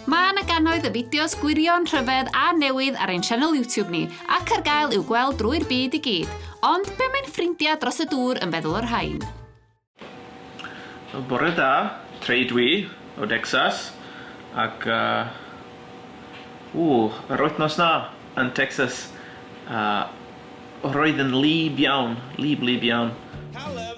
Mae yna gannoedd y fideos gwirion, rhyfedd a newydd ar ein sianel YouTube ni, ac ar gael i'w gweld drwy'r byd i gyd. Ond be mae'n ffrindiau dros y dŵr yn feddwl o'r rhain? Bore da, Trey dwi, o Decsas, ac uh, ww, yr wythnos na yn Texas, uh, Roedd yn wlyb iawn, wlyb wlyb iawn.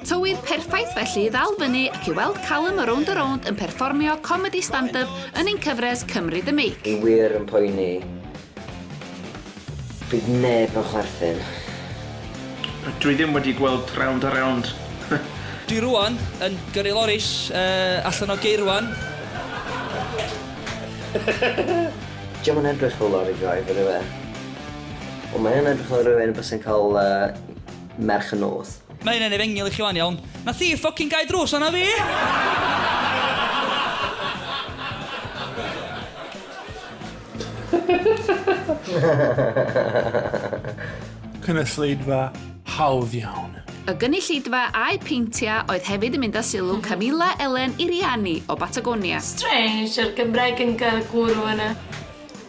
Tywydd perffaith felly i ddal fyny ac i weld Callum o Rownd a Rownd yn perfformio comedi stand-up yn ein cyfres Cymru The Make. Fi wir yn poeni. Bydd neb yn chwerthin. Dwi ddim wedi gweld Rownd a Rownd. Dwi rŵan yn gyrru loris allan o geirwan. Dio'm yn edrych fel lori driver yw e? Wel mae hyn yn edrych fel rhywun byse'n cael yy merch y nos. Mae hyn yn efengyl i chi wan iawn. Na thief ffocin gau drws arna fi! Cynulleidfa hawdd iawn. Y gynulleidfa a'u peintia oedd hefyd yn mynd â sylw Camilla Ellen Iriani o Batagonia. Strange yr Gymraeg yn gael gwrw yna.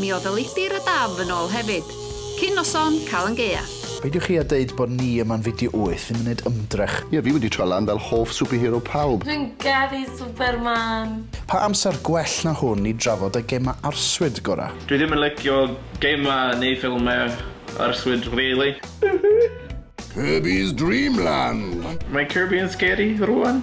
Mi oedd y lifft i'r adaf yn ôl hefyd. Cyn noson, cael yn gaeaf. Peidiwch chi a deud bod ni yma'n fideo wyth ddim yn neud ymdrech. Ie fi wedi trio lan fel hoff superhero pawb. Dwi'n garu Superman! Pa amser gwell na hwn i drafod y gema arswyd gora? Dwi ddim yn licio gema neu ffilmau arswyd really. Kirby's Dream Land! Mae Kirby yn scary rwan?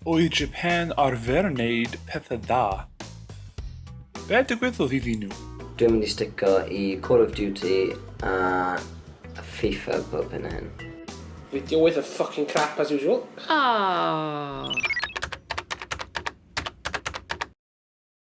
Oedd Japan arfer wneud pethau dda? Be digwyddodd iddyn nhw? Dwi'n mynd i stico i Call of Duty a FIFA bob hyn a hyn. Fideo waith of fucking crap as usual. Aww.